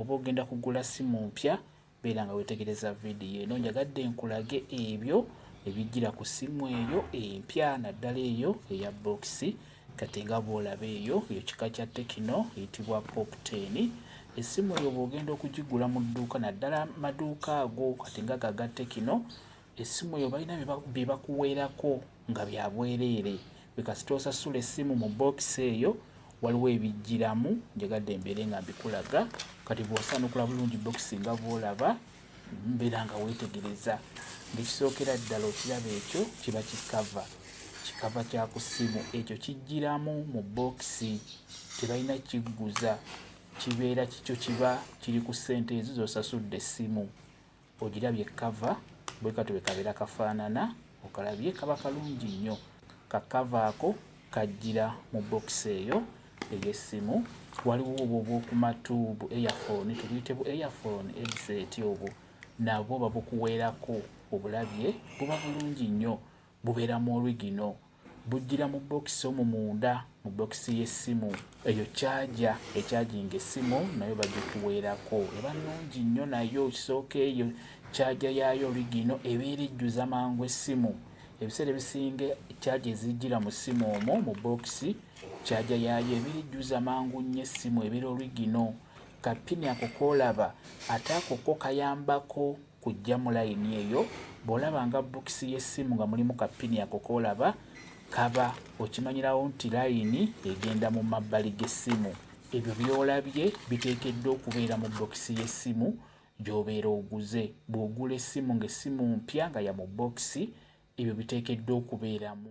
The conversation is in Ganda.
Bw'oba ogenda kugula ssimu mpya, beera nga weetegereza vidiyo eno. Njagadde nkulage ebyo ebijjira ku ssimu eyo empya naddala eyo eya bookisi. Kati nga bw'olaba eyo, eyo kika kya Tekino eyitibwa Pop 10. Essimu eyo bw'ogenda okugigula mu dduuka naddala amaduuka ago kati nga aga Tekino, essimu eyo balina bye bakuweerako nga bya bwereere gwe kasita osasula essimu mu bookisi eyo waliwo ebijjiramu njagadde embeere nga mbikulaga kati bw'osanukula bulungi bookisi nga bw'olaba mbeera nga weetegereza ng'ekisookera ddala okiraba ekyo kiba kikava kikava kya ku ssimu ekyo kijjiramu mu bookisi tebalina kigguza kibeera kikyo kiba kiri ku ssente ezo z'osasudde essimu ogirabye kava bwe kati bwe kabeera kafaanana okalabye kaba kalungi nnyo kakava ako kajjira mu bokisi eyo ey'essimu waliwo obwo obwokumatu bu earphone tubuyite bu earphone headset obwo nabwo babukuweerako obulabye buba bulungi nnyo Bubeera mu origino. Bujjira mu bbokisi omwo munda, mu bbokisi y'essimu. Eyo caaja ecajinga essimu nayo bagikuweerako. Eba nnungi nnyo nayo. Kisooka eyo caaja yaayo origino ebeera ejjuza mangu essimu. Ebiseera ebisinga caaja ezijjira mu ssimu omwo mu bbokisi, caaja yaayo ebeera ejjuza mangu nnyo essimu, ebeera origino. Kapini ako k'olaba ate ako ko kayambako. kujjamu layini eyo bw'olabanga bokisi y'essimu nga mulimu ka ppini ako k'olaba kaba okimanyirawo nti layini egenda mu mabbali g'essimu ebyo by'olabye biteekeddwa okubeera mu bokisi y'essimu gy'obeera oguze bw'ogula essimu ng'essimu mpya nga ya mu bokisi ebyo biteekeddwa okubeeramu